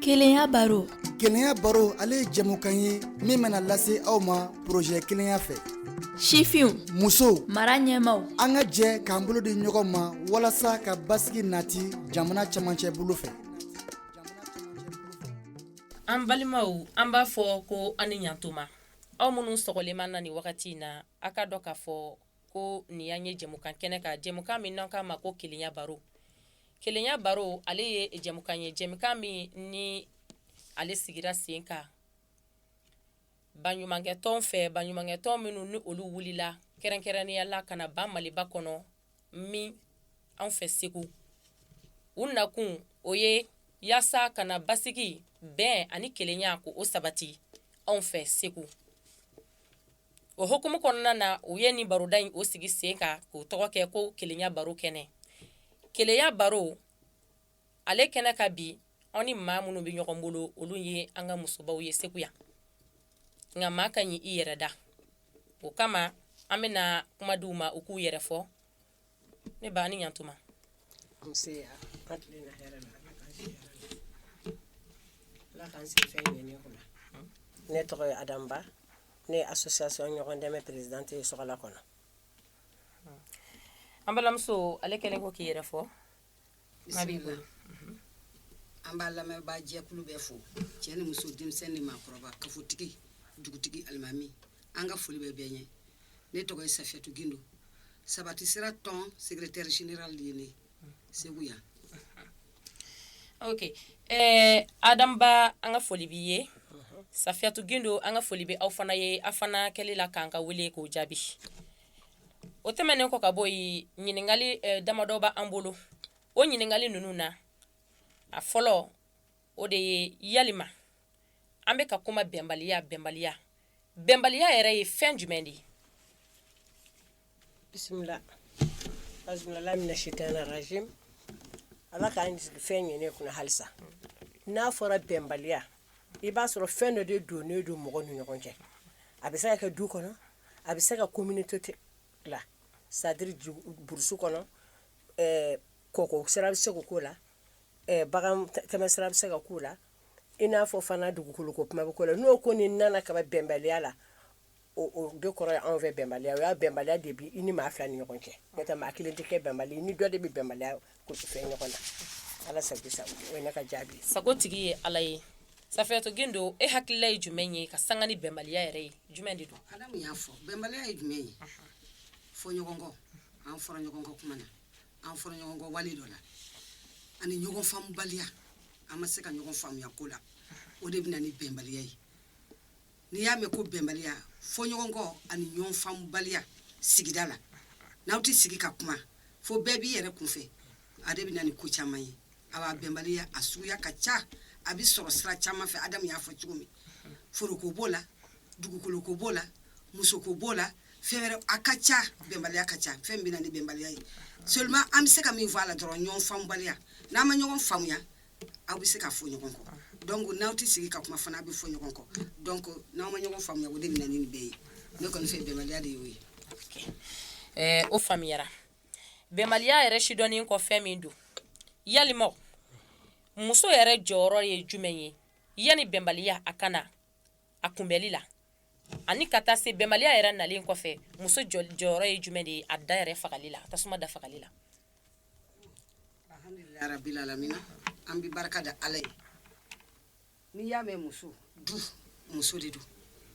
Kelenya baro kelenya baro ale ye jɛmukan ye min bena lase aw ma porozɛ kelenya fɛ sifinw musow mara ɲɛmaaw an ka jɛ k'an bolo di ɲɔgɔn ma walasa ka basigi nati jamana cɛmancɛ bolo fɛ an balimaw an b'a fɔ ko aw ni ɲatuma aw minnu sɔgɔlen b'an na nin wagati na a k'a dɔn k'a fɔ ko nin y'an ye jɛmukan kɛnɛ kan jɛmukan min n'an k'a ma ko kelenya baro kelenya baro ale ye jɛmukan ye jɛmukan min ni ale sigira sen kan baɲumankɛtɔn fɛ baɲumankɛtɔn minnu ni olu wulila kɛrɛnkɛrɛnnenya la ka na ba maliba kɔnɔ min an fɛ segu u nakun o ye yaasa ka na basigi bɛn ani kelenya k'o sabati anw fɛ segu o hukumu kɔnɔna na u ye nin baroda in o sigi sen kan k'o tɔgɔ kɛ ko kelenya baro kɛnɛ kelenya baro ale kɛnɛ kan bi anw ni maa minnu bɛ ɲɔgɔn bolo olu ye an ka musobaw ye segu yan nka maa ka ɲi i yɛrɛ da o kama an bɛna na kuma di u ma u k'u yɛrɛ fɔ ne ba a ni ɲantuma nse an tilenna hɛrɛ la ala k'an si hɛrɛ la ala k'an sigi fɛn ɲɛnen kunna ne tɔgɔ ye adam ba ne ye association ɲɔgɔn dɛmɛ présidente ye sokalakɔnɔ an balimamuso ale kɛlen kɔ k'i yɛrɛ fɔ A b'i bolo. An b'an lamɛnbaa jɛkulu bɛɛ fo cɛ ni muso denmisɛn ni maakɔrɔba kafotigi dugutigi alimami an ka foli bɛ bɛɛ ye ne tɔgɔ ye safiyatu gindo sabati sira tɔn secrétaire général de ye ne ye segu yan ok ɛɛ adam ba an ka foli b'i ye safiyatu gindo an ka foli bɛ aw fana ye aw fana kɛli la k'an ka wele k'o jaabi o tɛmɛnen kɔ ka bɔ yen ɲininkali eh, damadɔ bɛ an bolo o ɲininkali ninnu na a fɔlɔ o de ye yalima an bɛ ka kuma bɛnbaliya bɛnbaliya bɛnbaliya yɛrɛ ye fɛn jumɛn de ye bisimila azumala mina sitana rajim ala k'an sigi fɛn ɲɛnen kunna halisa n'a fɔra bɛnbaliya i b'a sɔrɔ fɛn dɔ de donnen don mɔgɔ ni ɲɔgɔn cɛ a bɛ se ka kɛ du kɔnɔ a bɛ se ka communauté la c'est-à-dire burusu kɔnɔ kɔ sira bɛ se ka k'o la bagan tɛmɛsira bɛ se ka k'o la i n'a fɔ fana dugukolo ko kuma bɛ k'o la n'o ko nin nana ka bɛnbaliya la o de kɔrɔ anw fɛ bɛnbaliya o y'a bɛnbaliya de bi i ni maa fila ni ɲɔgɔn cɛ maa kelen tɛ kɛ bɛnbali i ni dɔ de bɛ bɛnbaliya Ko fɛn ɲɔgɔn na ala sago sa o ye ne ka jaabi sago tigi ye ala ye safiyatu gindo e hakilila ye jumɛn ye ka sanga ni bɛnbaliya yɛrɛ ye jumɛn de don ala y'a fɔ bɛnbaliya ye jumɛn ye fɔɲɔgɔnkɔ an fɔra ɲɔgɔn kɔ kuma na an fɔra ɲɔgɔn kɔ wale dɔ la ani ɲɔgɔn faamubaliya an ma se ka ɲɔgɔn faamuya ko la o de bɛ na ni bɛnbaliya ye n'i y'a mɛn ko bɛnbaliya fɔɲɔgɔnkɔ ani ɲɔgɔn faamubaliya sigida la n'aw tɛ sigi ka kuma fo bɛɛ b'i yɛrɛ kun fɛ a de bɛ na ni ko caman ye awa bɛnbaliya a suguya ka ca a bɛ sɔrɔ sira caman fɛ adamu y'a fɔ cogo min foroko b'o la dugukoloko b'o la musoko b'o la fɛn wɛrɛ a ka ca bɛnbaliya ka ca fɛn bɛ na ni bɛnbaliya ye seulement an bɛ se ka min fɔ a la dɔrɔn ɲɔgɔn faamubaliya n'an ma ɲɔgɔn faamuya aw bɛ se ka fɔ ɲɔgɔn kɔ donc ko n'aw tɛ sigi ka kuma fana aw bɛ fɔ ɲɔgɔn kɔ donc n'aw ma ɲɔgɔn faamuya o de bɛ ni bɛɛ ye ne kɔni fɛ bɛnbaliya de y'o ye ɛɛ o faamuyara bɛnbaliya yɛrɛ sidɔnnen kɔfɛ min don ya muso yɛrɛ jɔyɔrɔ ye jumɛn ye yanni bɛnbaliya a ka na a kunbɛli la ani ka taa se bɛnbaliya yɛrɛ nalen kɔfɛ muso jɔyɔrɔ ye jumɛn de ye a da yɛrɛ fagali la tasuma da fagali la alhamdulilayi rabila alamina an bɛ barika da ala ye n'i y'a mɛn muso du muso de don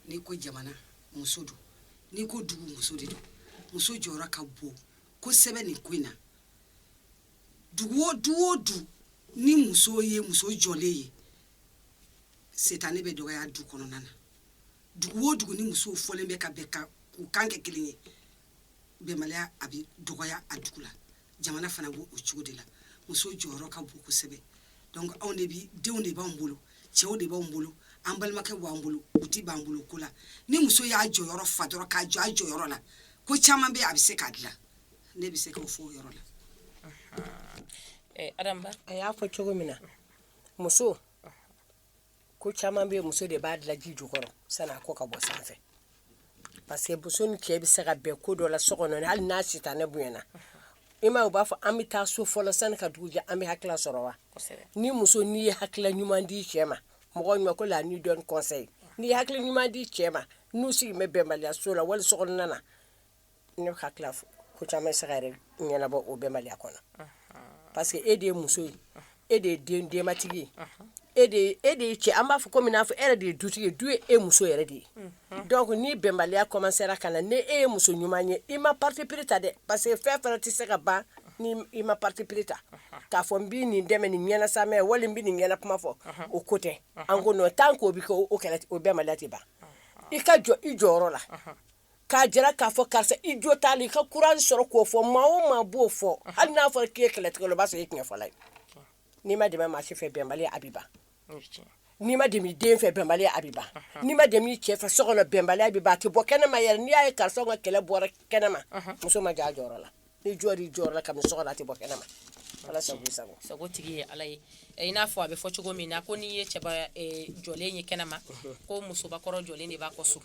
n'i ko jamana muso don n'i ko dugu muso de don muso jɔyɔrɔ ka bon kosɛbɛ nin ko in na dugu o du o du ni muso ye muso jɔlen ye sitanɛ bɛ dɔgɔya du kɔnɔna na dugu o dugu ni musow fɔlen bɛ ka bɛn ka k'u kan kɛ kelen ye bɛnbaliya a bɛ dɔgɔya a dugu la jamana fana b'o o cogo de la muso jɔyɔrɔ ka bon kosɛbɛ donc anw de bi denw de b'anw bolo cɛw de b'anw bolo an balimakɛ b'an bolo u ti b'an bolo ko la ni muso y'a jɔyɔrɔ fa dɔrɔn ka jɔ a jɔyɔrɔ la ko caman bɛ a bɛ se k'a dilan ne bɛ se k'o fɔ o yɔrɔ la a y'a fɔ cogo min na muso ko caman bɛ muso de b'a dilan ji jukɔrɔ sani a ko ka bɔ sanfɛ parce que muso ni cɛ bɛ se ka bɛn ko dɔ la so kɔnɔ hali n'a sitanɛ bonyana i ma u b'a fɔ an bɛ taa so fɔlɔ sani ka dugu jɛ an bɛ hakila sɔrɔ wa ni muso n'i ye hakila ɲuman di cɛ ma mɔgɔ ɲuman ko la ni dɔn kɔsɛbɛ n'i hakili ɲuman di cɛ ma n'u sigi bɛ bɛnbaliya so la wali so na Ne hakili ko caman se ɲɛnabɔ o bɛnbaliya kɔnɔ parce que e de ye muso ye e de ye den denbatigi e de ye cɛ an b'a fɔ ko min fɔ e de ye du ye du ye e muso yɛrɛ de ye donc ni bɛnbaliya ko sera ka na ni e ye muso ɲuman ye i ma paperere ta dɛ parce que fɛn fana tɛ se ka ban ni i ma paperere ta k'a fɔ n bɛ nin dɛmɛ ni ɲɛna sa mɛn wali bɛ nin ɲɛna kuma fɔ o ko tɛ an ko tan k'o bɛ o o bɛnba ban i ka jɔ i jɔyɔrɔ la k'a jira k'a fɔ karisa i jo t'a la i ka courage sɔrɔ k'o fɔ maa o maa b'o fɔ hali n'a fɔra k'i ye kɛlɛtigɛla ye o b'a sɔrɔ i ye tiɲɛfɔla ye n'i ma dɛmɛ maa si fɛ bɛnbaliya a bɛ ban n'i ma dɛmɛ i den fɛ bɛnbaliya a bɛ ban n'i ma dɛmɛ i cɛ fɛ so kɔnɔ bɛnbaliya bɛ ban a tɛ bɔ kɛnɛma yɛrɛ n'i y'a ye karisa ka kɛlɛ bɔra kɛnɛma muso ma jɔ a jɔyɔrɔ la ni jɔ di jɔ la ka so la tɛ bɔ kɛnɛ ma ala sago sago sago tigi ye ala ye i n'a fɔ a bɛ fɔ cogo min na ko n'i ye cɛba jɔlen ye kɛnɛ ma ko musobakɔrɔ jɔlen de b'a kɔ so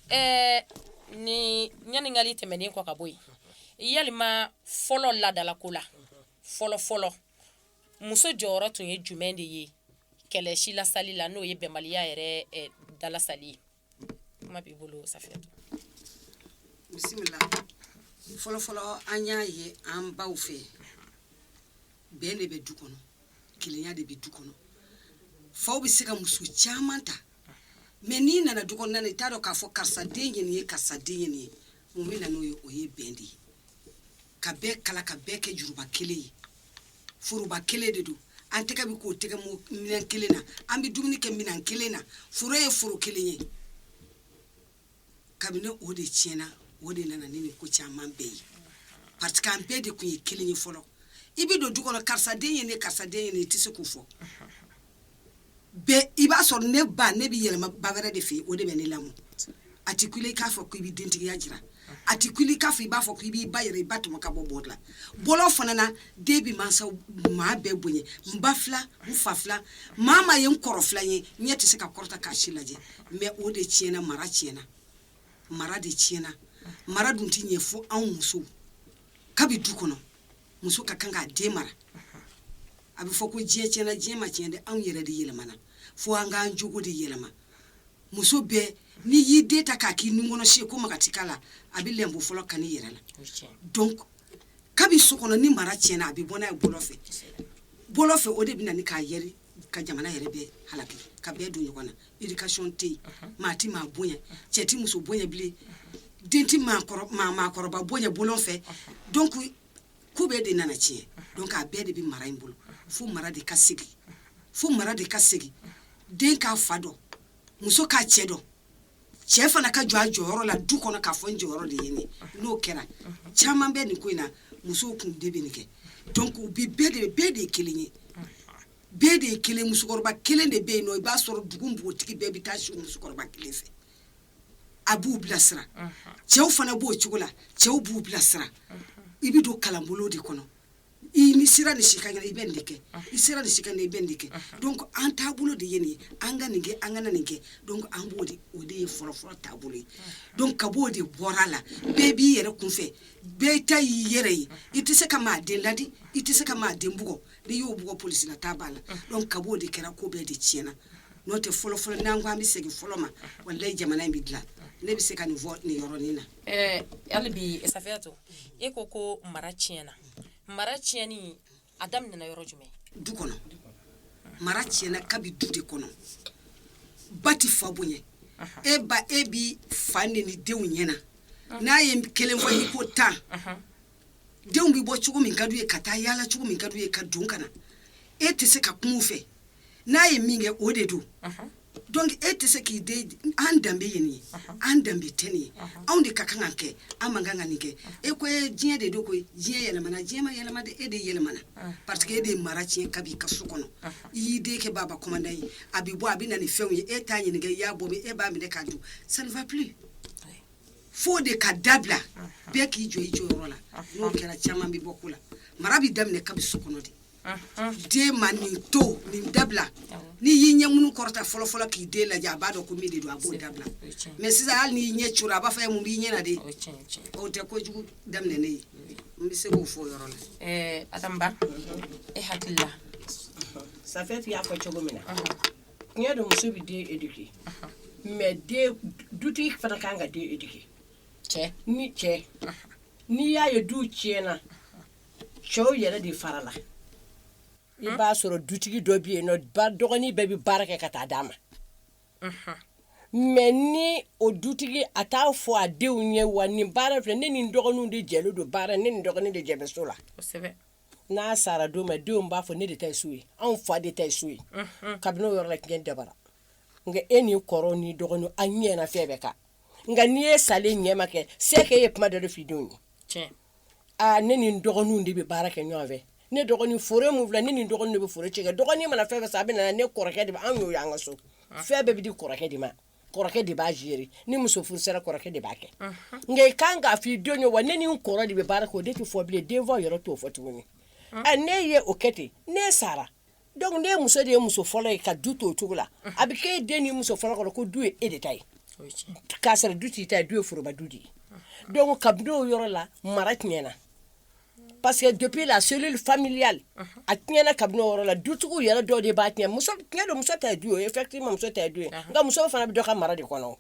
ɛɛ ni ɲininkali tɛmɛnen kɔ ka bɔ yen yali maa fɔlɔ laadalako la fɔlɔ fɔlɔ muso jɔyɔrɔ tun ye jumɛn de ye kɛlɛ silasali la n'o ye bɛnbaliya yɛrɛ dalasali ye kuma b'i bolo safiyatu bisimila fɔlɔfɔlɔ an y'a ye an baw fɛ bɛn de bɛ du kɔnɔ kelenya de bɛ du kɔnɔ faw bɛ se ka muso caman ta mais n'i nana du kɔnɔna na i t'a dɔn k'a fɔ karisa den ye nin ye karisa den ye nin ye mun bɛ na n'o ye o ye bɛn de ye ka bɛɛ kala ka bɛɛ kɛ juruba kelen ye foroba kelen de don an tɛgɛ bɛ ko tɛgɛ minɛn kelen na an bɛ dumuni kɛ minɛn kelen na foro ye foro kelen ye kabini o de tiɲɛna o de nana ni nin ko caman bɛɛ ye parce que an bɛɛ de tun ye kelen ye fɔlɔ i bɛ don du kɔnɔ karisa den ye nin ye karisa den ye nin ye i tɛ se k'o fɔ i b'a sɔrɔ ne ba ne bɛ yɛlɛma ba wɛrɛ de fɛ o de bɛ ne lamɔ a tɛ kun i k'a fɔ ko i bɛ dentigiya jira a tɛ kun k'a fɔ i b'a fɔ ko i b'i ba yɛrɛ i ba tɔmɔ ka bɔ baw la bɔ fana na den bɛ mansa maa bɛɛ bonya n ba filan fa filan maa ma ye n kɔrɔ filan ye ɲɛ tɛ se ka kɔrɔta k'a si lajɛ mais o de tiɲɛna mara tiɲɛna mara de tiɲɛna mara dun tɛ ɲɛ fo anw musow kabi du kɔnɔ muso ka kan k'a den mara a bɛ fɔ ko diɲɛ tiɲɛna diɲɛ ma tiɲɛ dɛ anw yɛrɛ de yɛlɛmana fo an k'an jogo de yɛlɛma muso bɛɛ n'i y'i den ta k'a k'i nunkɔnɔsi ko maga ti k'a la a bɛ lebu fɔlɔ kan i yɛrɛ la donc kabi so kɔnɔ ni mara tiɲɛna a bɛ bɔ n'a ye bɔlɔn fɛ bɔlɔn fɛ o de bɛ na ni k'a yɛri ka jamana yɛrɛ bɛɛ halaki ka bɛɛ don ɲɔgɔn na éducation tɛ yen maa ti maa bonya cɛ ti muso bonya bilen den ti maakɔrɔba bonya bɔlɔn fɛ donc ko bɛɛ de nana tiɲɛ donc a bɛɛ de bɛ mara in bolo fo mara de ka segin fo mara de ka segin den k'a fa dɔn muso k'a cɛ dɔn cɛ fana ka jɔ a jɔyɔrɔ la du kɔnɔ k'a fɔ n jɔyɔrɔ de ye nin ye n'o kɛra caman bɛ nin ko in na musow kun de bɛ nin kɛ donc u bi bɛɛ de bɛɛ de ye kelen ye bɛɛ de ye kelen musokɔrɔba kelen de bɛ yen nɔ i b'a sɔrɔ dugu npogotigi bɛɛ bɛ taa si musokɔrɔba kelen fɛ a b'u bilasira cɛw fana b'o cogo la cɛw b'u bilasira i bɛ don kalanbolo de kɔnɔ i n'i sera ni si ka i bɛ nin kɛ i sera ni si ka i bɛ nin kɛ donc an taabolo de ye nin ye an ka nin kɛ an ka nin kɛ an b'o de o de ye fɔlɔfɔlɔ taabolo ye donc kabi o de bɔra a la bɛɛ b'i yɛrɛ kun fɛ bɛɛ ta y'i yɛrɛ ye i tɛ se ka maa den laadi i tɛ se ka maa den bugɔ n y'o bɔ psila t' b'a la donc kabi o de kɛra ko bɛɛ de tiɲɛna n'o tɛ fɔlɔfɔlɔ n'an ko an bɛ segin fɔlɔ ma wala jamana in bɛ dila ne bɛ se ka nin fɔ nin yɔrɔnin na Hali bi safiyatu i ko ko mara tiɲɛna mara tiɲɛni a daminɛna yɔrɔ jumɛn du kɔnɔ mara tiɲɛna kabi du de kɔnɔ ba tɛ fa bonya e ba e bɛ fa neni denw ɲɛ na n'a ye kelen fɔ i ko tan denw bɛ bɔ cogo min ka d'u ye ka taa yaala cogo min ka d'u ye ka don ka na e tɛ se ka kuma u fɛ n'a ye min kɛ o de don donc e tɛ se k'i den an danbe ye nin ye an danbe tɛ nin ye anw de ka kan ka kɛ an man kan ka nin kɛ e ko e diɲɛ de don ko diɲɛ yɛlɛmana diɲɛ ma yɛlɛma de e de yɛlɛmana parce que e de ye mara tiɲɛ kabi i ka so kɔnɔ i y'i den kɛ baba commandant ye a bɛ bɔ a bɛ na nin fɛnw ye e t'a ɲininka i y'a bɔ e b'a minɛ k'a don sanfa fo o de ka dabila bɛɛ k'i jɔ i jɔyɔrɔ la n'o kɛra caman bɛ bɔ ko la mara bɛ daminɛ kabi so kɔnɔ de den ma nin to nin dabila n'i y'i ɲɛ minnu kɔrɔta fɔlɔfɔlɔ k'i den lajɛ a b'a dɔn ko min de don a b'o dabila mais sisan hali n'i y'i ɲɛ coro a b'a fɔ i ye mun b'i ɲɛ na de o tɛ kojugu daminɛ ne ye n bɛ se k'o fɔ o yɔrɔ la adama e hakili la safi y'a fɔ cogo min na N y'a dɔn muso bɛ den éduquer mais den dutigi fana ka kan ka den éduquer cɛ ni cɛ n'i y'a ye du tiɲɛna cɛw yɛrɛ de fara la i b'a sɔrɔ dutigi dɔ bɛ yen n'o dɔgɔnin bɛɛ bɛ baara kɛ ka taa d'a ma mais ni o dutigi a t'a fɔ a denw ye wa nin baara filɛ ne ni n dɔgɔninw de jɛlen don baara ne ni n dɔgɔnin de jɛlen bɛ so la kosɛbɛ n'a sara don min denw b'a fɔ ne de ta ye so ye anw fa de ta ye so ye kabini o yɔrɔ la kɛlɛ dabɔra nka e ni kɔrɔ ni dɔgɔnin an ɲɛ fɛn bɛɛ kan nka ni e salen ɲɛma kɛ c'est que e ye kuma dɔ fɔ i denw ye ne ni dɔgɔninw de bɛ baara kɛ ɲɔgɔn fɛ ne dɔgɔnin f min fila ne ni dɔgɔnin bɛ furu cɛ dɔgɔnin mana fɛn san a bɛ n'a di kɔrɔkɛ de anw y'o an ka so fɛn bɛɛ bɛ di kɔrɔkɛ de ma kɔrɔkɛ de b'a gérer ni muso furu sera kɔrɔkɛ de b'a kɛ nka i ka kan k'a fɔ i denw ye wa ne ni n kɔrɔ de bɛ baara kɛ o de tɛ fɔ bilen denfaw yɛrɛ t'o fɔ tuguni ɛ n'e ye o kɛ ten n'e sara donc n'e muso de ye muso fɔlɔ ye ka du to o cogo la a bɛ k'e den ni muso fɔlɔ kɔnɔ ko du ye e de ta ye k'a sɔrɔ du t'i ta ye du ye foroba du de ye donc kabini o yɔrɔ la mara tiɲɛna Parce que depuis la cellule familiale unhun, a tiɲɛna kabini o yɔrɔ la, dutigiw yɛrɛ dɔw de b'a tiɲɛ, muso tiɲɛ don muso ta ye du ye effectivement muso ta ye du ye, unhun, nka muso fana bɛ dɔ ka mara de kɔnɔ,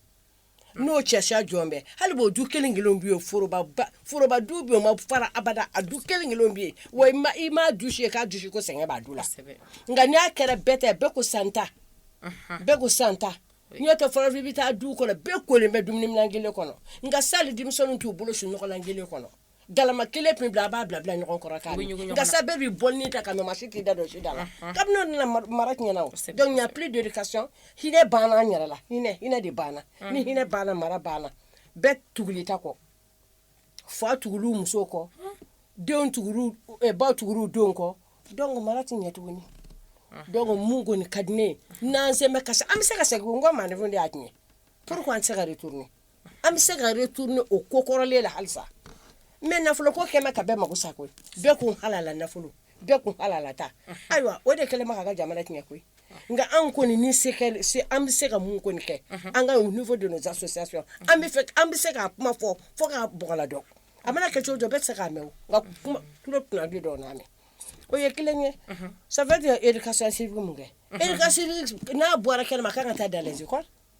n'o cɛ sa jɔn bɛ, hali bi o du kelen kelenw bɛ yen foroba ba, foroba du bɛ yen o ma fara abada, a du kelen kelenw bɛ yen wa i ma i ma dusu ye k'a dusu ko sɛgɛn b'a du la, kosɛbɛ, nka n'a kɛra bɛɛ ta ye bɛɛ ko sisan n ta, unhun, bɛɛ ko sisan n ta, n'o tɛ fɔlɔ i bɛ taa duw kɔnɔ bɛɛ kolen bɛ dumuniminɛn kelen kɔnɔ nka sisan hali denmisɛnninw t'u bolo su nɔgɔlan kelen kɔnɔ galama kelen min bila a b'a bila bila ɲɔgɔn kɔrɔ k'a gasa bɛɛ bɛ bɔ ta ka min maa si t'i da don si da la kabini nana mara tiɲɛna o donc n'y a plus d'éducation hinɛ banna yɛrɛ la hinɛ hinɛ de banna ni hinɛ banna mara banna bɛɛ tugul'i ta kɔ fa tugu muso kɔ denw baw tugu denw kɔ donc mara tɛ ɲɛ tuguni donc mun ko ni ka di ne ye n'an sɛmɛ kasi an bɛ se ka segin kɔ n ko ma de y'a tiɲɛ p an tɛ se ka de tuguni An bɛ se ka retourner ni o ko kɔrɔlen la halisa mais nafolo ko kɛlen bɛ ka bɛɛ mako sa koyi bɛɛ ko halala nafolo bɛɛ ko halala ta ayiwa o de kɛlen bɛ ka an ka jamana tiɲɛ koyi nka anw kɔni ni se kɛlen se an bɛ se ka mun kɔni kɛ an ka au niveau de nos associations an bɛ fɛ an bɛ se k'a kuma fɔ fo k'a bɔgɔladɔ a mana kɛ cogo o cogo bɛɛ tɛ se k'a mɛn o nka kuma tulo kunnandi dɔ na na o ye kelen ye ça veut dire éducation civique mun kɛ éducation civique n'a bɔra kɛnɛ ma a ka kan ka taa dans les écoles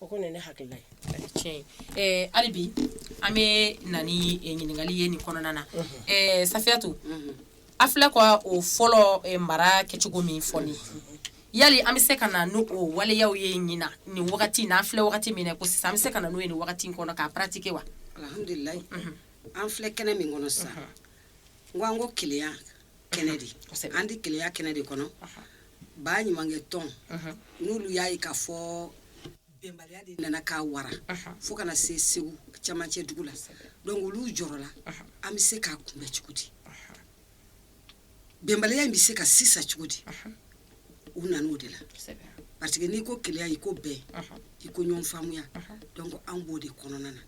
O ko ne hakili la hali bi an bɛ na ni ɲininkali ye nin kɔnɔna na Safiyatu a filɛ ko o fɔlɔ mara kɛcogo min fɔ nin yali an bɛ se ka na n'o o waleya ye ɲinan nin wagati n' an filɛ wagati min kɔnɔ sisan an bɛ se ka na n'o ye wagati in kɔnɔ k'a pratiquer wa an filɛ kɛnɛ min kɔnɔ sisan ko an ko kelenya kɛnɛ de Kosɛbɛ. an bɛ kelenya kɛnɛ de kɔnɔ Baɲumankɛ tɔn n'olu y'a ye k'a fɔ bɛnbaliya de nana ka wara fo ka na se Segu camancɛ dugu la donc olu jɔrɔla an bɛ se k'a kunbɛn cogo di bɛnbaliya in bɛ se ka sisa cogo di u nan'o de la Kosɛbɛ. parce que n'i ko kelenya i ko bɛn i ko ɲɔgɔn faamuya donc an b'o de kɔnɔna na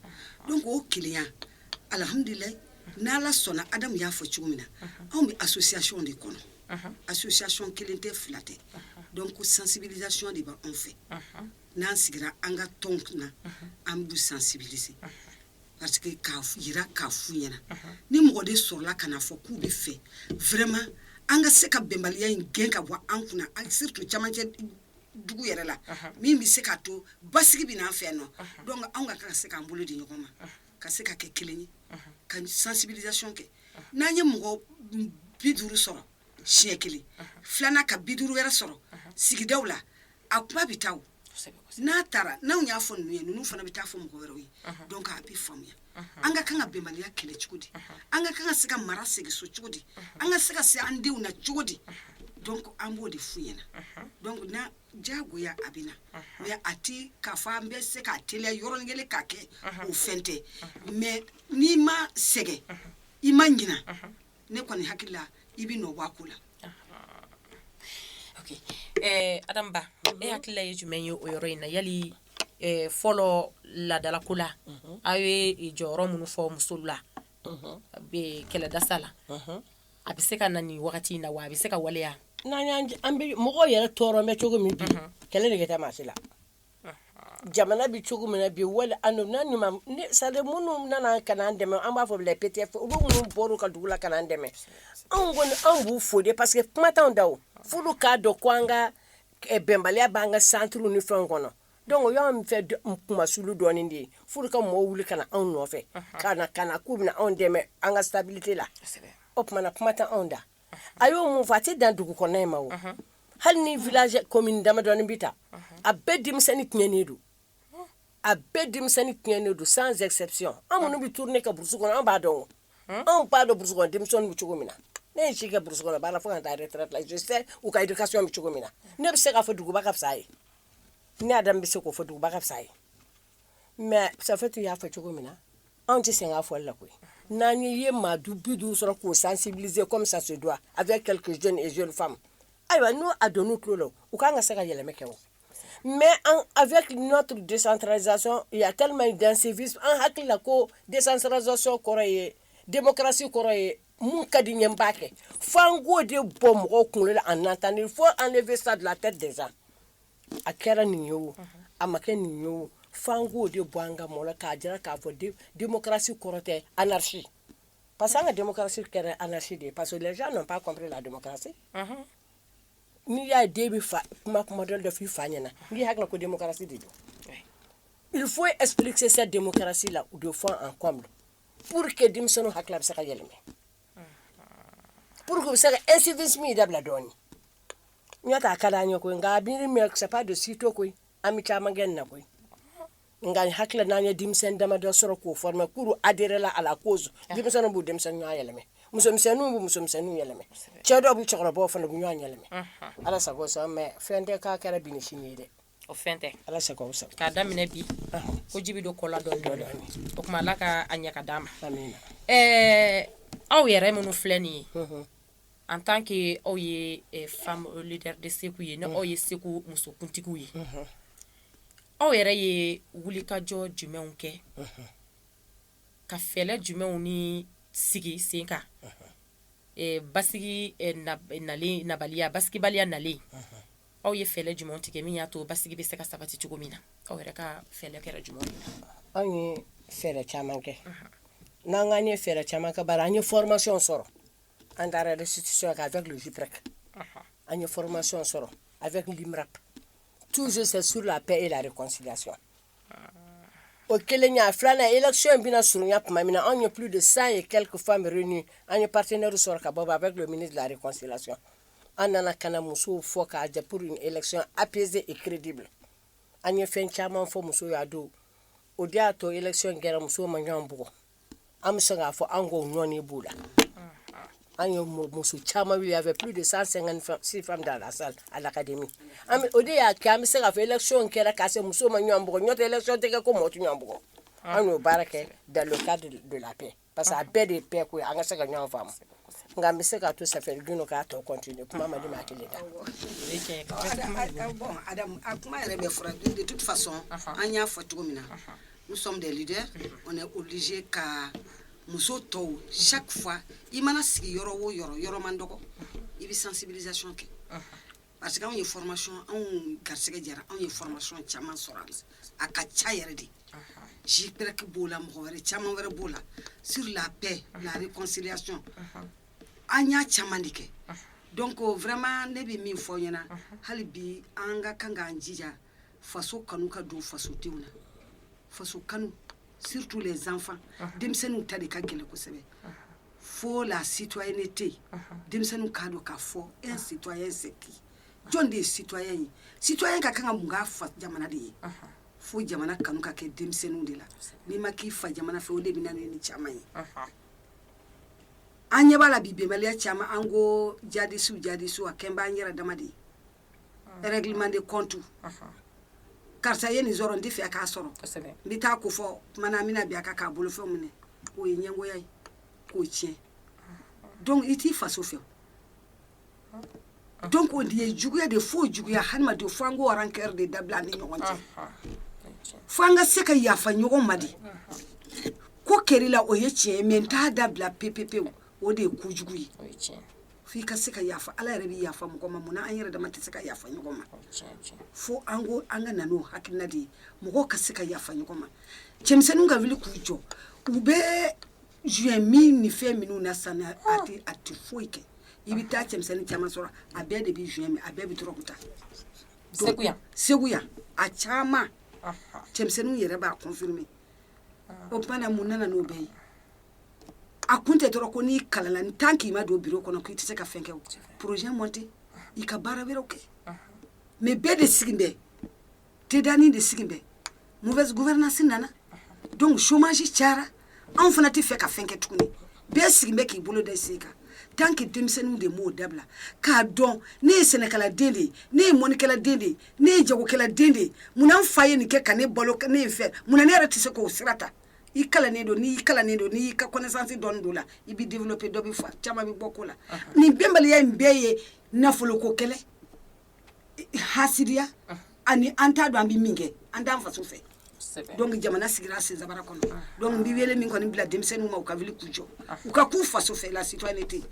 donc o kelenya Alihamdulilayi n' ala sɔnna Adamu y'a fɔ cogo min na anw bɛ association de kɔnɔ association kelen tɛ fila tɛ donc sensibilisation de b bɛ anw fɛ n'an sigira an ka tɔn kunna an bɛ sensibiliser parce que k'a jira k'a f ɲɛna ni mɔgɔ de sɔrɔla k'a fɔ k'u b'a fɛ vraiment an ka se ka bɛnbaliya in gɛn ka bɔ an kunna surtout camancɛ dugu yɛrɛ la min bɛ se k'a to basigi bɛ na an fɛ nɔ donc anw ka kan ka se k'an bolo di ɲɔgɔn ma ka se ka kɛ kelen ye ka sensibilisation kɛ n'an ye mɔgɔ bi duuru sɔrɔ siɲɛ kelen filanan ka bi duuru wɛrɛ sɔrɔ sigidaw la a kuma bɛ taa n'a taara n'anw y'a fɔ ninnu ye ninnu fana bɛ taa fɔ mɔgɔ wɛrɛw ye donc a bɛ faamuya an ka kan ka bɛnbaliya kɛlɛ cogo di an ka kan ka se ka mara segin so cogo di an ka se ka se an denw na cogo di donc an b'o de f'u ɲɛna donc na jagoya a bɛ na mɛɛn a tɛ k'a fɔ an bɛ se k'a teliya yɔrɔnin kelen ka kɛ o fɛn tɛ mais n'i ma sɛgɛn i ma ɲina ne kɔni hakili la i bɛ nɔ bɔ ko la eh, adam ba e hakilila ye jumɛn ye o yɔrɔ in na yali eh, fɔlɔ laadalako la mhm. aw ye jɔyɔrɔ minnu fɔ muso la mhm. kɛlɛ dasa la mhm. A bɛ se ka na nin wagati in na wa a bɛ se ka waleya n'an an bɛ mɔgɔ yɛrɛ tɔɔrɔ bɛ cogo min bi kɛlɛ nege tɛ maa si la jamana bɛ cogo min bi wali sa minnu nana ka na an dɛmɛ an b'a fɔ la p tɛ u minnu bɔra u ka dugu la ka na an dɛmɛ anw kɔni anw b'u fo de parce que kuma t'anw da furu k'a dɔn ko an ka bɛnbaliya b'an ka centre ni fɛn kɔnɔ Donc y' min fɛ kumamas dɔɔni de ye furu ka mɔgɔw wuli ka na anw nɔfɛ ka na ka na k'u bɛ anw dɛmɛ an ka sabali la o tuma na kuma tɛ anw da a y'o mun faa a tɛ dan dugu kɔnɔ in ma wa hali ni v ko min damadɔin bɛ ta a bɛɛ denmisɛnninni tiɲɛnen don a bɛɛ denmisɛnninni tiɲɛnen don sans exception anw minnu bɛ tourner ka burusi kɔnɔ an b'a dɔn anw b'a dɔn brougan denmisɛnnin bɛ cogo min na ne ye si kɛ brougan b'a fɔ ka taa yɛrɛ u ka i ka so bɛ cogo min na ne bɛ se k'a fɔ duguba ka fisa a ye ne adam bɛ se k'o fɔ duguba ka fisa ye mɛ safetu y'a fɔ cogo min na anw tɛ sen k'a fɔli la koyi n'an ye ye maa du bi duuru sɔrɔ k'o sansibilize kɔmi sa se dɔn a bɛ kɛlɛke jɔn ni zoni faamu ayiwa n'o a don tulo la u k'an ka se ka yɛlɛmɛ kɛ o mɛ an a bɛ nɔ tun desanzson yali in dansin an hakili la ko desansazson kɔrɔ ye denmusosi kɔrɔ ye minnu ka di i ye i b'a kɛ fo an k'o de bɔ mɔgɔw kunkolo la an tan ni fɔ an bɛ sa dilan a tɛ de a kɛra nin ye o a ma kɛ nin ye fo an k'o de bɔ an ka mɔn k'a jira k'a fɔ démocratie kɔrɔ tɛ anarchie parce que an ka démocratie kɛra anarchie de ye parce que on n'a pas compris la démocratie n'i y'a den bɛ fa kuma kuma dɔ fɔ i fa ɲɛna n'i hakili ko démocratie de don il faut que ça cesse démocratie la u don fɔ an kɔ pour que denmisɛnninw hakili bɛ se ka yɛlɛma pour que u bɛ se ka incivisme in dabila dɔɔnin n y'a ta a ka d'an ye koyi nka a miiri mais c'est pas de sitôt koyi an bɛ caman kɛ nin na koyi nka n hakili la n'an ye denmisɛnnin damadɔ sɔrɔ k'o former k'olu adhérer la à la cause denmisɛnninw b'u denmisɛnnin ɲɔgɔn yɛlɛma musomisɛnninw b'u musomisɛnninw yɛlɛma cɛ dɔw b'u cɛkɔrɔbaw fana b'u ɲɔgɔn yɛlɛma ala sago i sago mais fɛn tɛ k'a kɛra bi ni sini ye dɛ O fɛn tɛ ala sago sa k'a daminɛ bi ko ji bɛ don kɔ la dɔɔni dɔɔni o tuma ala ka a ɲaga d'a ma ɛɛ aw yɛrɛ minnu filɛ nin ye en tant que aw ye femmes leaders de segu ye aw ye segu musokuntigiw ye aw yɛrɛ ye wulikajɔ jumɛnw kɛ ka fɛɛrɛ jumɛnw ni sigi sen kan basigi nabaliya basigibaliya nalen aw ye fɛɛrɛ jumɛn tigɛ min y'a to basigi bɛ se ka sabati cogo min na aw yɛrɛ ka fɛɛrɛ kɛra jumɛn ye anw ye fɛɛrɛ caman kɛ n'an kaan ye fɛɛrɛ caman kɛ bara an ye formation sɔrɔ an taara yɛrɛ sisi kan avec JUPREC an ye formation sɔrɔ avec l'IMRAP toujours c'est sur la paix et la réconciliation o kelen y'a filanan élection bɛna surunya tuma min na anw ye plus de cent et quelques femmes réunir an ye partenaire sɔrɔ ka bɔ avec le ministère de la réconciliation an nana ka na musow fɔ k'a ja pur ekiy a peze kiridi bila an ye fɛn caman fɔ muso y'a don o de y'a tɔ ekiy in kɛra muso man ɲɔgɔn bugɔ an bɛ se k'a fɔ an k ko ɲɔn b'o la an ye muso caman a fɛ p de san sɛgɛn si fan da la sa a la kadi o de y'a kɛ an bɛ se ka fɔ ekiy in kɛra k'a se muso ma ɲɔgɔn bugɔ ɲɔ tɛ lasɔn tɛ ko mɔtu ɲɔgɔn bugɔ an y'o baara kɛ daloka de la pe Parce que a bɛɛ de ye paix ko ye an ka se ka ɲɔgɔn faamu nka n bɛ se k'a to ça fait Guy k'a tɔ continuer kuma man di maa kelen da. Bon Adamu a kuma yɛrɛ bɛɛ fɔra de toute façon an y'a fɔ cogo min na nous sommes des leaders on est obligé ka muso tɔw chaque fois i mana sigi yɔrɔ o yɔrɔ yɔrɔ man dɔgɔ i bɛ sensibilisation kɛ. parce que anw ye formation anw garisɛgɛ diyara anw ye formation caman sɔrɔ a la a ka ca yɛrɛ de JUPREC b'o la mɔgɔ wɛrɛ caman wɛrɛ b'o la sur la paix la réconciliation an y'a caman de kɛ donc vraiment ne bɛ min fɔ nin na hali bi an ka kan k'an jija faso kanu ka don fasodenw na faso kanu surtout les enfants denmisɛnninw ta de ka gɛlɛn kosɛbɛ fo la citoyenneté denmisɛnninw k'a dɔn k'a fɔ un citoyen c'est qui jɔn de ye citoyen ye citoyen ka kan ka mun k'a fa jamana de ye fo jamana kanu ka kɛ denmisɛnninw de la n'i ma k'i fa jamana fɛ o de bɛ na ni nin caman ye an ɲɛ b'a la bi bɛnbaliya caman an ko jadisiw jadisiw a kɛlen bɛ an yɛrɛ dama de ye règlement de compte karisa ye nin sɔrɔ n tɛ fɛ k'a sɔrɔ n bɛ taa ko fɔ tuma na an bɛna bin a kan k'a bolofɛnw minɛ o ye ɲɛngoya ye k'o tiɲɛ donc i t'i faso fɛ donc o de ye juguya de fo juguya hadamaden fo an ko rancœur de dabila an ni ɲɔgɔn cɛ fo an ka se ka yafa ɲɔgɔn ma de ko kɛra i la o ye tiɲɛ ye mais n t'a dabila pepepewu o de ye kojugu ye fo i ka se ka yafa ala yɛrɛ bɛ yafa mɔgɔ ma munna an yɛrɛ dama tɛ se ka yafa ɲɔgɔn ma fo an ko an ka nana hakilina de ye mɔgɔ ka se ka yafa ɲɔgɔn ma cɛmisɛnninw ka wuli k'u jɔ u bɛ joint min ni fɛn minnu na san a tɛ a tɛ foyi kɛ i bɛ taa cɛmisɛnnin caman sɔrɔ a bɛɛ de bɛ joint min a bɛɛ bɛ dɔrɔgu ta segu yan segu yan a caman cɛmisɛnninw yɛrɛ b'a confirmer o tuma na mun nana n'o bɛɛ ye a kun tɛ dɔrɔn ko n'i kalala ni tant k'i ma don biro kɔnɔ k'i tɛ se ka fɛn kɛ projet monter i ka baara wɛrɛw kɛ mais bɛɛ de sigi bɛɛ tedani de sigi bɛɛ mauvaise gouvernance nana donc chômage cayara anw fana tɛ fɛ ka fɛn kɛ tuguni bɛɛ sigi bɛ k'i bolo da sen kan tant que denmisɛnninw de b'o dabila k'a dɔn ne ye sɛnɛkɛla den de ye ne ye mɔnikɛla den de ye ne ye jagokɛla den de ye munna n fa ye nin kɛ ka ne balo ne ye fɛ mun ne yɛrɛ tɛ se k'o sira ta i kalannen don n'i kalannen don n'i ka connaissance don dɔ la i bɛ développer dɔ bɛ fa caman bɛ bɔ ko la nin bɛnbaliya in bɛɛ ye nafoloko kɛlɛ hasidiya ani an t'a dɔn an bɛ min kɛ an t'an faso fɛ donc jamana sigira sen sabara kɔnɔ donc n bɛ wele min kɔni bila denmisɛnnin ma u ka wuli k'u jɔ u ka k'u faso fɛ la citoyenneté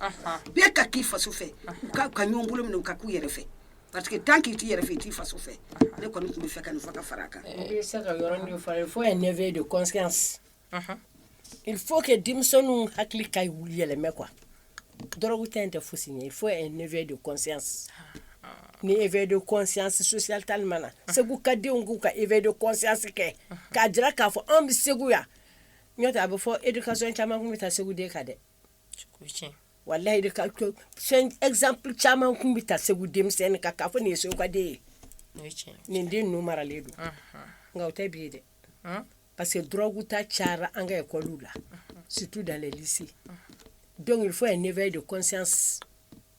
bɛɛ ka k'i faso fɛ u ka ɲɔgɔn bolo minɛ u ka k'u yɛrɛ fɛ Parce que tant k'i yɛrɛ i t'i faso fɛ ne kɔni tun bɛ fɛ ka nin fara fara kan fo éveil de il faut que denmisɛnninw hakili ka yɛlɛmɛ ko dɔrɔgu ta in tɛ foyi ye fo ne de ni éveil de conscience sociale tali ma na segu ka denw k'u ka éveil de conscience kɛ k'a jira k'a fɔ anw bɛ segu yan n a bɛ fɔ éducation caman tun bɛ ta segu den kan dɛ wala fɛn exemple caman tun bɛ ta segu denmisɛnnin kan k'a fɔ nin ye segukaden ye nin den ninnu maralen don nka tɛ bi ye dɛ parce que dɔrɔgu ta cayara an ka ekɔliw la surtout dans les lycées donc il faut éveil de conscience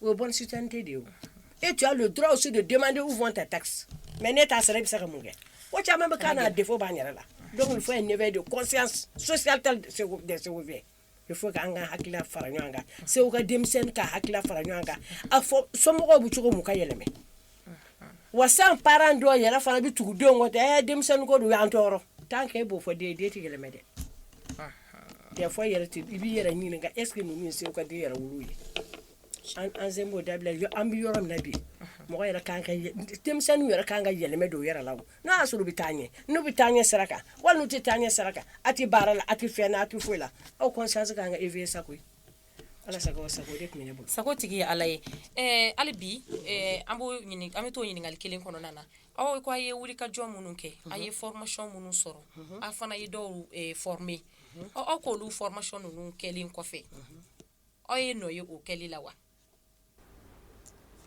O ye bonne citoyenneté de ye o et tu as le droit aussi de demander où vont tes taxes mais n'e t'a sara e be se ka mun kɛ ko caman be k'an na a défaut b'an yɛrɛ la donc il faut un éveil de conscience sociale telle de segu des ségoviens il faut que an ka hakilila fara ɲɔgɔn kan segu ka denmisɛnnin ka hakilila fara ɲɔgɔn kan a fɔ somɔgɔw be cogo min u ka yɛlɛmɛ wa san parent dɔ yɛrɛ fana bɛ tugu denw kɔ tɛ denmisɛnnin ko dun y'an tɔɔrɔ tant k'e b'o fɔ den den tɛ yɛlɛmɛ dɛ ya fɔ yɛrɛ i b'i yɛrɛ ɲininka est-ce que ninnu segukaden yɛrɛw ye an sen b'o dabila an bɛ yɔrɔ min bi mɔgɔ yɛrɛ kan denmisɛnnin yɛrɛ ka kan ka yɛlɛmɛ don yɛrɛ la n' y'a sɔrɔ bɛ taa ɲɛ n'u bɛ taa ɲɛ sara kan wali tɛ taa ɲɛ saraka a tɛ baara la a tɛ fɛn n' a tɛ foyi la aw conscience ka kan ka éveiller koyi Ala sago sago de tun bɛ ne bolo sago tigi ye Ala ye ɛɛ hali bi ɛɛ an b'o ɲini an bɛ t'o ɲininkali kelen kɔnɔna na aw ko a' ye wulikajɔ minnu kɛ a' ye formation minnu sɔrɔ a' fana ye dɔw ɛɛ former ɔ aw k'olu formation ninnu kɛlen kɔfɛ aw ye nɔ ye o kɛli la wa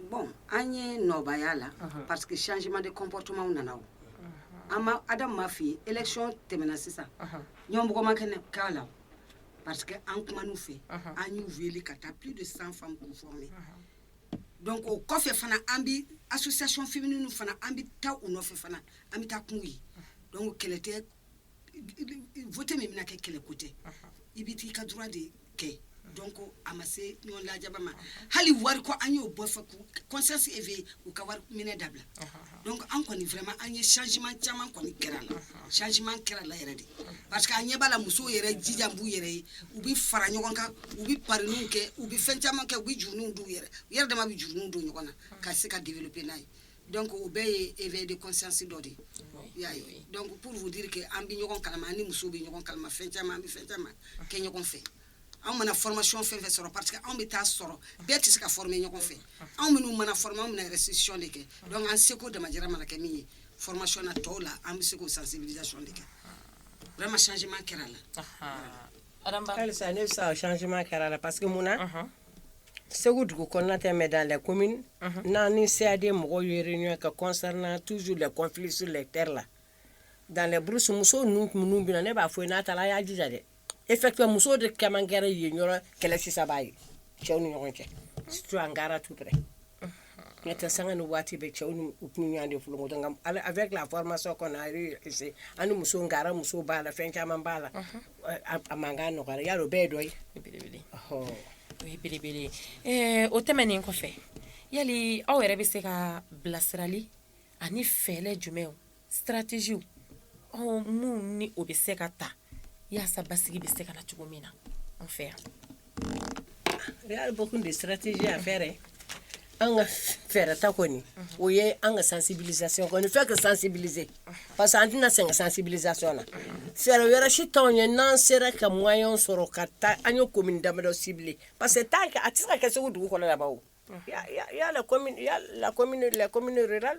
bon an ye nɔba y'a la parce que changement de comportement nana o an ma adam ma f'i ye élection tɛmɛna sisan yan mɔgɔ ma kɛlɛ k'a la parce que an kumanu fɛ an y'u wele ka taa plus de 100 femmes k'u former donc o kɔfɛ fana an bi association féminine fana an bi taa u nɔfɛ fana an bi taa k'u ye donc kɛlɛ tɛ vote min bɛna kɛ kɛlɛ ko tɛ i bɛ t'i ka droit de kɛ donc a ma se ɲɔgɔn lajaba ma hali wari ko an y'o bɔ fɛ k'u conscience éveiller u ka wari minɛ dabila donc an kɔni vraiment an ye changement caman kɔni y'a la changement kɛr'a la yɛrɛ de parce que an ɲɛ b'a la musow yɛrɛ jijalen b'u yɛrɛ ye u bɛ fara ɲɔgɔn kan u bɛ parininw kɛ u bɛ fɛn caman kɛ u bɛ juruninw d'u yɛrɛ u yɛrɛ dama bɛ juruninw don ɲɔgɔn na ka se ka développer n'a ye donc o bɛɛ ye éveil de conscience dɔ de y'a ye donc pour vous dire que an bɛ ɲɔgɔn kalan ni muso bɛ ɲɔgɔn kalan fɛn caman an bɛ fɛn caman kɛ ɲɔgɔn fɛ anw mana formation fɛn o fɛn sɔrɔ parce que anw bɛ taa sɔrɔ bɛɛ tɛ se ka former ɲɔgɔn fɛ anw minnu mana f anw bɛna restitution de kɛ donc an seko damajira mana kɛ min ye formation na tɔw la an bɛ se k'o sensibilisation de kɛ vraiment changement kɛr'a la ne bɛ changement kɛr'a la parce que mun na Segu dugu kɔnɔnatɛ bɛ da la ko n'an ni seden mɔgɔ ye ɲɔgɔn ka kɔsɔri n tuuzu la kɔnfisi lɛtɛreri la danbrusmuso ninnu minnu bɛ na ne b'a fɔ n'a taara a y'a jija dɛ e fɛ muso de kakɛ ye ɲɔgɔn kɛlɛ sisanba ye cɛw ni ɲɔgɔn cɛ su an kɛra tu N tɛ sanga ni waati bɛɛ cɛw ni ɲɔgɔn de fɔlɔ ala avec la formation kɔnɔ a an ni muso kɛra muso b'a la fɛn caman b'a la a man ka nɔgɔya o bɛɛ ye dɔ ye belebele o ye belebele o tɛmɛnen kɔfɛ yala aw yɛrɛ bɛ se ka bilasirali ani fɛɛrɛ jumɛn stratégies minnu ni o bɛ se ka ta walasa basigi bɛ se ka na cogo min na an fɛ yan yɛrɛbakun de stratégie an fɛɛrɛ an ka fɛɛrɛta kɔni o ye an ka sensibilisation kɔni fɛn ka sensibiliser parce que an tɛna sɛgɛn ka sensibilisation na fɛɛrɛ wɛrɛ si tɛ yen n'an sera ka moyen sɔrɔ ka taa an ye ko min dadɔ sibi parce que taa kɛ a tɛ se ka kɛ segu dugu kɔnɔ laban yala la la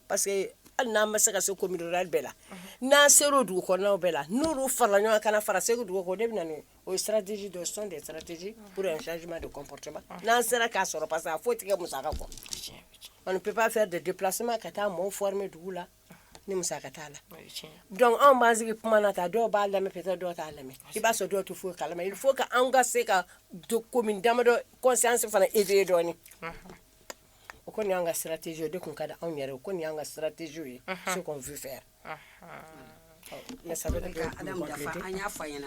parce que hali n'an ma se ka se commune rurale bɛɛ la, unhun, n'an sera o dugu kɔnɔnaw bɛɛ la n'olu farala ɲɔgɔn kan ka na fara Segu dugu kan o de bɛ na ni o ye stratégie dɔ ye ce sont des stratégies pour un changement de comportement n'an sera k'a sɔrɔ parce que a foyi tɛ kɛ musaka kɔ on ne peut pas faire de déplacement ka taa mɔgɔw former dugu la ni musaka t'a la donc anw b'an sigi kuma na tan dɔw b'a lamɛn peut-être dɔw t'a lamɛn i b'a sɔrɔ dɔw tɛ foyi kalama il faut que anw ka se ka commune damadɔ conscience fana éveiller dɔɔnin O kɔni y'an ka stratégie o de tun ka di anw yɛrɛ o kɔni y'an ka stratégiew ye ce qu'on veut faire ne sabu an y'a fa ɲɛna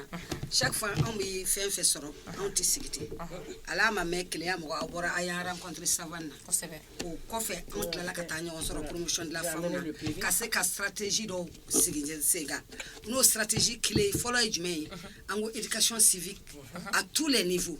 sa fan anw bɛ fɛn fɛ sɔrɔ anw tɛ sigi ten ala ma mɛ kɛlɛya mɔgɔ a bɔra a y'an kɔn saba na o kɔfɛ anw tilala ka taa ɲɔgɔn sɔrɔla ka se ka stratégie dɔ sigi sen kan n'o stratégie clé fɔlɔ ye jumɛn ye an ko éducation civique à tous les niveaux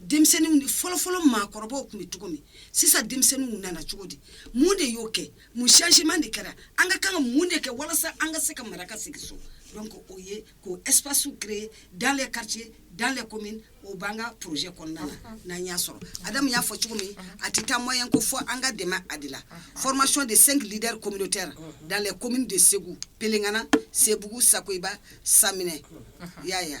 denmisɛnninw fɔlɔfɔlɔ maakɔrɔbaw tun bɛ cogo min sisan denmisɛnninw nana cogo di mun de y'o kɛ mun changement de kɛra an ka kan ka mun de kɛ walasa an ka se ka mara ka segin so donc o ye k'o espace créer dans les quartiers dans les communes o b'an ka projet kɔnɔna na uh-huh. n'an y'a sɔrɔ Adamu y'a fɔ cogo min uh-huh. a tɛ taa moyen kɔ fo an ka dɛmɛ a de la uh-huh. formation de cinq leaders communautaires dans les communes de Segu Pelengana Sebugu Sakoiba Saminɛ i y'a ye wa.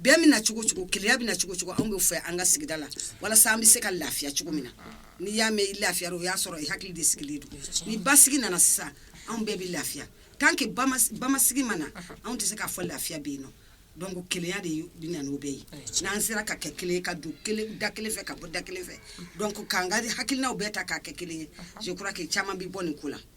bɛn bɛ na cogo cogo kelenya bɛ na cogo cogo anw bɛ fɛ an ka sigida la walasa an bɛ se ka lafiya cogo min na n'i y'a mɛn i lafiya o y'a sɔrɔ i hakili de sigilen don ni basigi nana sisan anw bɛɛ bɛ lafiya tant que basigi ma na anw tɛ se k'a fɔ lafiya bɛ yen nɔ donc kelenya de bɛ na n'o bɛɛ ye n'an sera ka kɛ kelen ka don da kelen fɛ ka bɔ da kelen fɛ donc k'an ka hakilinaw bɛɛ ta k'a kɛ kelen ye je crois que caman bɛ bɔ nin ko la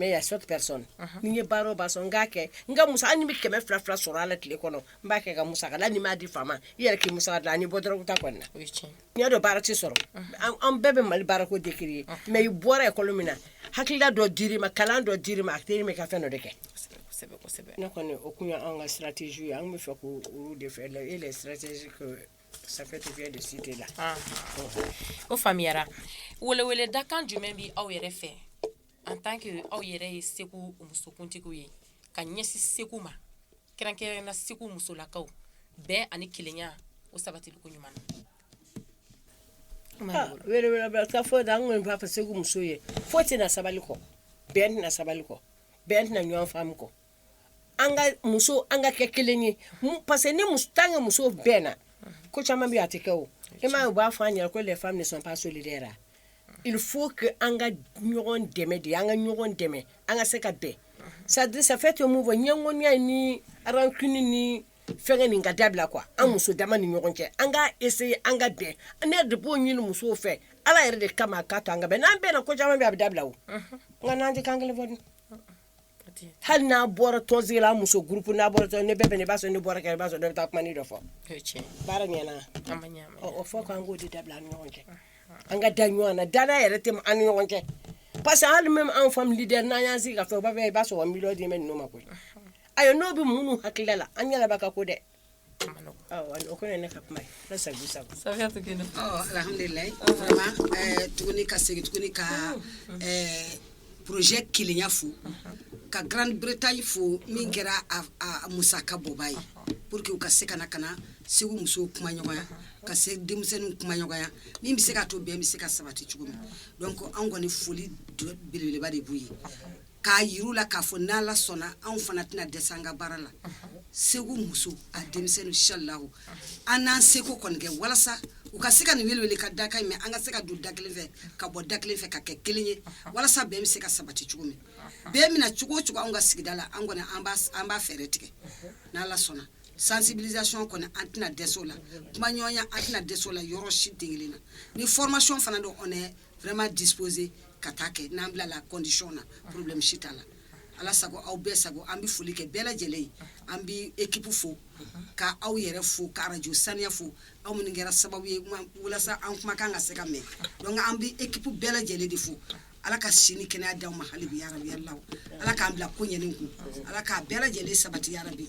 mais y'a sɔrɔ personne ni ye baara ba sɔn k'a kɛ n ka musaka ni bɛ kɛmɛ fila fila sɔrɔ ala tile kɔnɔ n b'a kɛ ka musaka la n'i m'a di fa ma i yɛrɛ k'i musaka la ni bɔ dɔrɔn ta kɔnɔ na n dɔn baara tɛ sɔrɔ an bɛɛ bɛ mali baara ko de kelen ye mais i bɔra école min na hakilila dɔ dir'i ma kalan dɔ dir'i ma a teri min ka fɛn dɔ de kɛ ne kɔni o tun ye an ka stratégiew ye an bɛ fɛ k' de fɛ e sira O faamuyara weleweledakan jumɛn bɛ aw yɛrɛ fɛ en tant que aw yɛrɛ ye segu musokuntigiw ye ka ɲɛsin segu ma kɛrɛnkɛrɛnnenya la segu musolakaw bɛɛ ani kelenya o sabatili koɲuman fɔ segu muso ye foyi tɛ na sabali kɔ bɛn sabali kɔ bɛn tɛ na ɲɔgɔnfaamu kɔ an ka muso an ka kɛ kelen ye parce que ni tan ka muso bɛnna ko caman bɛ a tɛ kɛ o e m u b'a fɔ an ɲɛ ko femmes sont pas solidaires fo an ka ɲɔgɔn dɛmɛ de an ka ɲɔgɔn dɛmɛ an ka se ka bɛn sadurufɛ tɛ mun fɔ ɲɛmɔgɔya ni arac ni fɛn nin ka dabila que an muso dama ni ɲɔgɔn cɛ an ka essayer an ka bɛn an b'o de ɲini musow fɛ ala yɛrɛ de kama ka to an ka n'an bɛnna ko caman bɛ a bɛ dabila o nka n'an tɛ kan kelen fɔ hali n'an bɔra tɔnsigi la muso groupe bɛɛ b'a sɔrɔ n'i bɔra kɛnɛma i b'a sɔrɔ dɔ bɛ taa kuma nin dɔ fɔ, o ye tiɲɛ ye, baara ɲɛna wa, ɔ o fɔ ko an k'o de dabila an ni ɲɔgɔn cɛ, an ka da ɲɔgɔn na danaya yɛrɛ tɛ an ni ɲɔgɔn cɛ parce que hali même anw femmes leaders n'an y'an sigi ka fɛn fɛn fɔ u b'a fɔ i b'a sɔrɔ miliyɔn dilen bɛ ninnu ma koyi, ayiwa n'o bɛ minnu hakilila la an ɲɛ da b'a ka ko dɛ Tuguni ka segin tuguni ka projet kelenya fo ka grande bretagne fo min kɛra musaka bɔbaa ye pour que u ka se ka na ka na segu muso kumaɲɔgɔnya ka se denmisɛnnin kumaɲɔgɔnya min bɛ se ka to bɛn bɛ se ka sabati cogo min donc anw kɔni foli belebeleba de b'u ye k'a yir'u la k'a fɔ n'Ala sɔnna anw fana tɛna dɛsɛ an ka baara la Segu muso ani denmisɛn inshalahu an n'an seko kɔni kɛ walasa u ka se ka nin weleweleda kan in mɛn an ka se ka don da kelen fɛ ka bɔ da kelen fɛ ka kɛ kelen ye walasa bɛn bɛ se ka sabati cogo min bɛn bɛ na cogo o cogo anw ka sigida la an kɔni an b'a fɛɛrɛ tigɛ n'Ala sɔnna sensibilisation kɔni an tɛna dɛsɛ o la kumaɲɔgɔnya an tɛna dɛsɛ o la yɔrɔ si den kelen na ni formation fana don on est vraiment disposé ka taa a kɛ n'an bilala condition na problème si t'a la ala sago aw bɛɛ sago an bɛ foli kɛ bɛɛ lajɛlen ye an bɛ équipe fo ka aw yɛrɛ fo ka arajo saniya fo aw minnu kɛra sababu ye walasa an kumakan ka se ka mɛn donc an bɛ équipe bɛɛ lajɛlen de fo ala ka si ni kɛnɛya d'aw ma hali bi yarabi yalilaw ala k'an bila ko ɲɛnen kun ala k'a bɛɛ lajɛlen sabati yarabi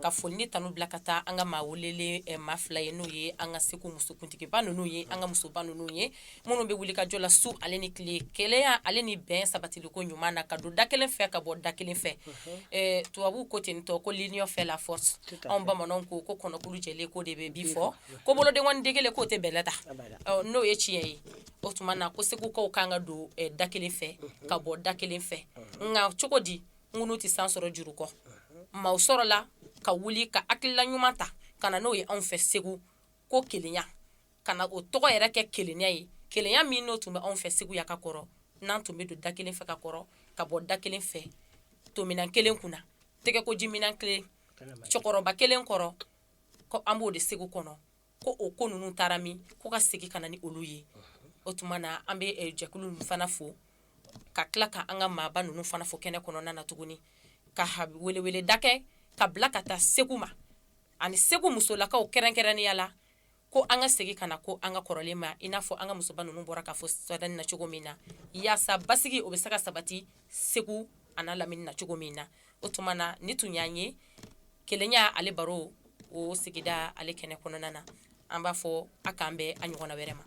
ka foli ni tanu bila ka taa an ka maa welelen maa fila ye n'o ye an ka segu musokuntigiba ninnu ye an ka musoba ninnu ye minnu bɛ wulikajɔ la su ale ni tile kelenya ale ni bɛn sabatiliko ɲuman na ka don da kelen fɛ ka bɔ da kelen fɛ tubabu ko ten tɔ ko l'union fait la force anw bamanan ko ko kɔnɔkulu jɛ ko de bɛ bii fɔ ko boloden dege kelen k'o tɛ bɛlɛ ta n'o ye tiɲɛ ye o tuma na ko segukaw ka kan ka don da kelen fɛ ka bɔ da kelen fɛ nka cogo di ŋunu tɛ san sɔrɔ juru kɔ maaw sɔrɔla ka wuli ka hakilila ɲuman ta ka na n'o ye anw fɛ segu ko kelenya ka na o tɔgɔ yɛrɛ kɛ kelenya ye kelenya min n'o tun bɛ anw fɛ segu yan ka kɔrɔ n'an tun bɛ don da kelen fɛ ka kɔrɔ ka bɔ da kelen fɛ tominɛn kelen kunna tɛgɛkojiminɛn kelen cɛkɔrɔba kelen kɔrɔ ko an b'o de segu kɔnɔ ko o ko ninnu taara min ko ka segin ka na ni olu ye o tuma na an bɛ eh, jɛkulu ninnu fana fo ka tila ka an ka maaba ninnu fana fo kɛnɛ kɔnɔna na tuguni ka weleweleda kɛ ka bila ka taa segu ma ani segu musolakaw kɛrɛnkɛrɛnnenya la ko an ka segin ka na ko an ka kɔrɔlen ma i n'a fɔ an ka musoba ninnu bɔra k'a fɔ sadani na cogo min na yaasa basigi o bɛ se ka sabati segu an'a lamini na cogo min na o tuma na nin tun y'an ye kelenya ale baro o sigida ale kɛnɛ kɔnɔna na an b'a fɔ a k'an bɛn a ɲɔgɔn wɛrɛ ma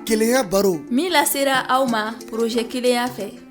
keya baro min lasera aw ma porozɛ kelenya fɛ